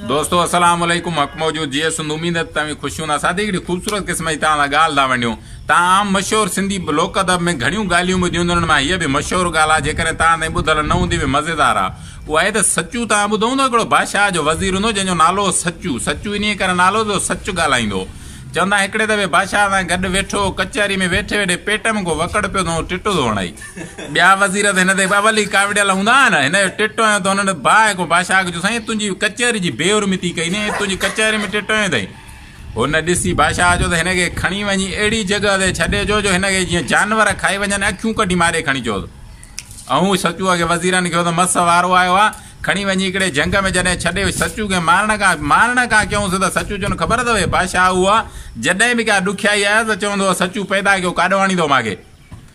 دوستو السلام عليڪم حق موجود جي سنڌ اميد ته توهين خوش هوندا ساٿي هڪڙي خوبصورت قسم جي توهان سان ڳالهه ٿا ونڊيون توهان عام مشهور سنڌي لوڪ ادب ۾ گهڻيون ڳالهيون ٻڌيون هونديون انهن مان هيء به مشهور ڳالهه آهي جيڪڏهن توهان تائين ٻڌل نه هوندي به مزيدار آهي اها آهي ته سچو توهان ٻڌو هوندو هڪڙو بادشاهه جو وزير هوندو جنهن جو نالو هو سچو سچو انهيء ڪري نالو هو جو سچ ڳالهائيندو هو چوندا آهن هڪڙي دفعي بادشاهه سان گڏ ويٺو هو ڪچهري ۾ ويٺي ويٺي پيٽ ۾ ڪو وڪڙ پيو ٿو ٽٽو ٿو هڻائي ٻيا وزير ته هن تي اول ئي ڪاوڙيل هوندا آهن. هن جو ٽٽويون ته هنن باهه کان باشا آکيو سائين تنهنجي ڪچهري جي بي حرمتي ڪئي ني تنهنجي ڪچهري ۾ ٽٽويون اٿئي. هن ڏسي باشا آکيو ته هن کي کڻي وڃي اهڙي جڳهه تي ڇڏي جو جو هن کي جيئن جانور کائي وڃن اکيون ڪڍي ماري کڻي چوس اهو سچو اڳي وزيرن کي هو ته مس وارو آيو آهي کڻي وڃي هڪڙي جهنگ ۾ جڏهن ڇڏي سچو کي مارڻ کان مارڻ کان ڪيون سڌا سچو چون خبر اٿو هي باشا اهو آهي جڏهن به ڪا ڏکيائي آيس ته چوندو هو سچو پيدا ڪيو ڪاڏو آڻيندو ماکي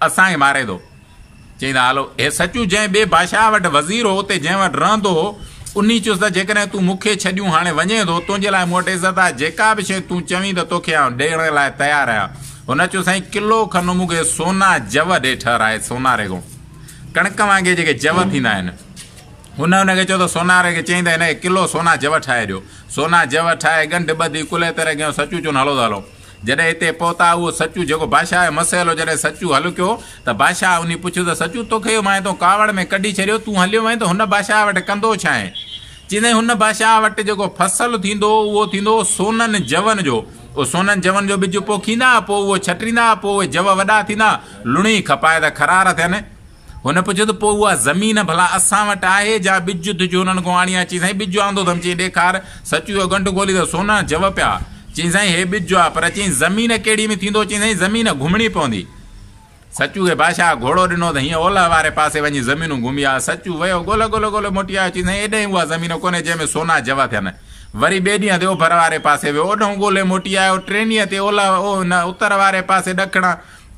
اسان کي ماري ٿو. چيائين ته هالو هي سچو جنهن ٻئي بادشاهه وٽ وزير هو اتي جنهن وٽ رهندو هو انهي چيس ته جيڪڏهن تون مون کي ڇڏيون هاڻي وڃين ٿو تنهنجي لاء مون وٽ عزت آهي جيڪا به شيء تون چوين ته توکي آئون ڏيڻ لاء تيار آهيان هن چيو سائين ڪلو کن مون کي سونا جوء ڏي ٺهرائي سوناري کان ڪڻڪ وانگي جيڪي جوء ٿيندا آهن هن هن کي چيو ته سوناري کي چيائين ته هن کي ڪلو سونا جوء ٺاهي ڏيو سونا جوء ٺاهي ڳنڍ ٻڌي ڪلهي تري کنيو سچو چون هلو ته هلون جڏهن هتي پهتا اهو سچو جيڪو بادشاهه جو مسئلو جڏهن سچو حل ڪيو ته بادشاهه انهي پڇيو ته سچو توکي اهو مانهين تون ڪاوڙ ۾ ڪڍي ڇڏيو تون هليو وئين ته هن بادشاهه وٽ ڪندو ڇانء؟ چيندئين هن بادشاهه وٽ جيڪو فصل ٿيندو اهو ٿيندو سونن جون جو اهو سونن جون جو ٻج پوکيندا پوء اهو ڇٽريندا پوء اهي جوء وڏا ٿيندا لڻي کپائي ته کرار ٿين هن پڇيو ته پوء اها زمين ڀلا اسان وٽ آهي جا ٻج تون هنن کان آڻي آ؟ چيائين سائين ٻج آندو اٿم چيائين ڏيکار سچوء جو ڳنڍ کولي ته سونا جوء پيا چيائين سائين هي ٻج آ پر چيائين زمين ڪهڙي ۾ ٿيندو چيائين سائين زمين گهمڻي پوندي سچوء کي بادشاهه گهوڙو ڏنو ته هيئن اولهه واري پاسي وڃي زمينون گهمي آيو سچوء ويو ڳولهه ڳولهه ڳولهه موٽي آيو چيائين سائين ايڏهين اها زمين ڪونهي جنهن ۾ سونا جوء ٿين وري ٻئي ڏينهن تي اوڀر واري پاسي ويو اوڏهون ڳولهي موٽي آيو ٽئين ڏينهن تي اولهه اتر واري پاسي ڏکڻ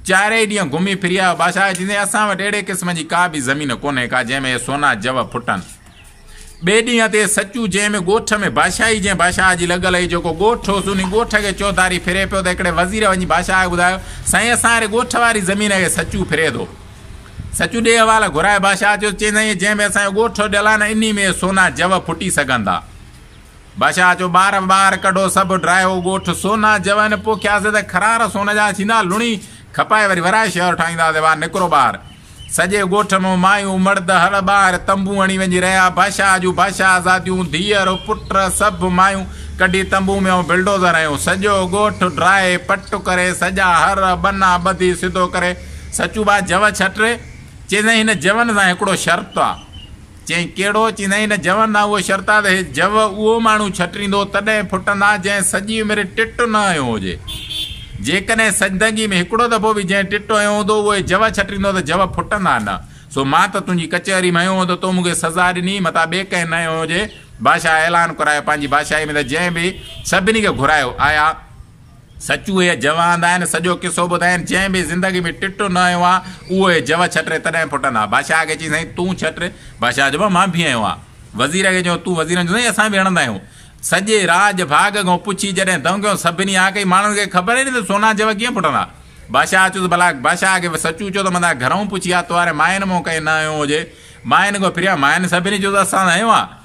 چارئي ڏينهن گهمي ڦري آيو بادشاهه چيائين اسان وٽ اهڙي قسم جي ڪا به زمين ڪونهي ڪا جنهن ۾ اهي سونا جوهر ڦٽن. ٻئي ڏينهن تي سچو جنهن ۾ ڳوٺ ۾ بادشاهي جنهن بادشاهه جي لڳل هئي جيڪو ڳوٺ هوس انهي ڳوٺ کي چوڌاري ڦري پيو ته هڪڙي وزير وڃي بادشاهه کي ٻڌايو سائين اسان اهڙي ڳوٺ واري زمين کي سچو ڦري ٿو. سچو ڏي حوال گهرائي بادشاهه چيس چيائين سائين جنهن ۾ اسان جو ڳوٺ هو ڏلان انهي ۾ اهي سونا جوهر ڦٽي سگهن ٿا. بادشاهه چيو، ٻار ٻار ڪڍو سڀ ڊراهيو ڳوٺ سونا جوين پوکياسي ته خرار سون جا ٿيندا لڻي کپائي وري ورائي شهر ٺاهينداسي وا نڪرو ٻاهر سڄي ڳوٺ مون مايون مرد هڙ ٻاهر تنبون هڻي وڃي رهيا بادشاهه جون بادشاهه زاديون ڌيئر پٽ سڀ مايون ڪڍي تنبون ۾ ائون بلڊوزر هنيو سڄو ڳوٺ ڊراهي پٽ ڪري سڄا هر ٻنا ٻڌي سڌو ڪري سچو با جوء ڇٽري چيسين هن جوين سان هڪڙو شرط آ. چيائين، ڪهڙو؟ چيندين هن جون ڏانهن اهو شرطاد هي جون اهو ماڻهو ڇٽريندو تڏهن ڦٽندا جنهن سڄي عمر ٽٽ نه هنيو هجي. جيڪڏهن سجدگي ۾ هڪڙو دفعو به جنهن ٽٽ هنيو هوندو اهو هي جون ڇٽريندو ته جون ڦٽندا نه. سو مان ته تنهنجي ڪچهري ۾ هنيو هو ته تو مون کي سزا ڏني متان ٻئي ڪنهن نه هنيو هجي. بادشاهه اعلان ڪرايو پنهنجي بادشاهي ۾ ته جنهن به سڀني کي گهرايو آيا. سچ اهي جوه هنڌ آهن، سڄو قصو ٻڌائين، جنهن به زندگي ۾ ٽٽو نه هنيو آهي، اهو اهي جوه ڇٽري تڏهن ڦٽن ها. بادشاهه کي چيائين، سائين تون ڇٽ. بادشاهه چيو، بابا مان ڀي هنيو آهي. وزير کي چيو، تون وزير هنيو آهي. سائين اسان ڀي هڻندا آهيون. سڄي راڄ ڀاڳ کان پڇي جڏهن دنگيو، سڀني ها ڪئي. ماڻهن کي خبر ئي نه ته سونا جوه ڪيئن ڦٽن ها. بادشاهه چيس، ڀلا بادشاهه کي سچو چئو ته مندا گهرئون پڇي آ تو واري ماين مان ڪنهن نه هنيو هجي. ماين کان پھريان ماين سڀني چيو ته اسان هنيو آهي.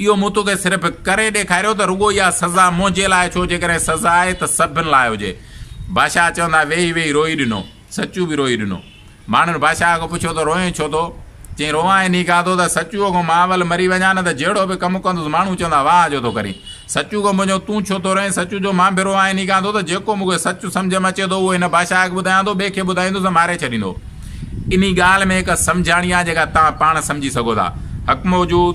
اهو مون توکي صرف ڪري ڏيکاريو ته رڳو اها سزا منهنجي لاء ڇو جيڪڏهن سزا آهي ته سڀن لاء هجي. بادشاهه چوندا ويهي ويهي روئي ڏنو. سچو به روئي ڏنو. ماڻهن بادشاهه کان پڇيو ته روئين ڇو ٿو؟ چيائين روئان انهي کاتو ته سچو کان مان اول مري وڃان نه ته جهڙو به ڪم ڪندس ماڻهو چوندا واهه جو ٿو ڪرين. سچو کان پڇيو تون ڇو ٿو روئين؟ سچو چيو مان به روئان انهي کاتو ته جيڪو مون کي سچ سمجهه ۾ اچي ٿو اهو هن بادشاهه کي ٻڌايان ٿو ٻئي کي ٻڌائيندس ته ماري ڇڏيندو. انهي ڳالهه ۾ هڪ سمجهاڻي آهي جيڪا توهان پاڻ سمجهي سگهو ٿا. حڪم وجود.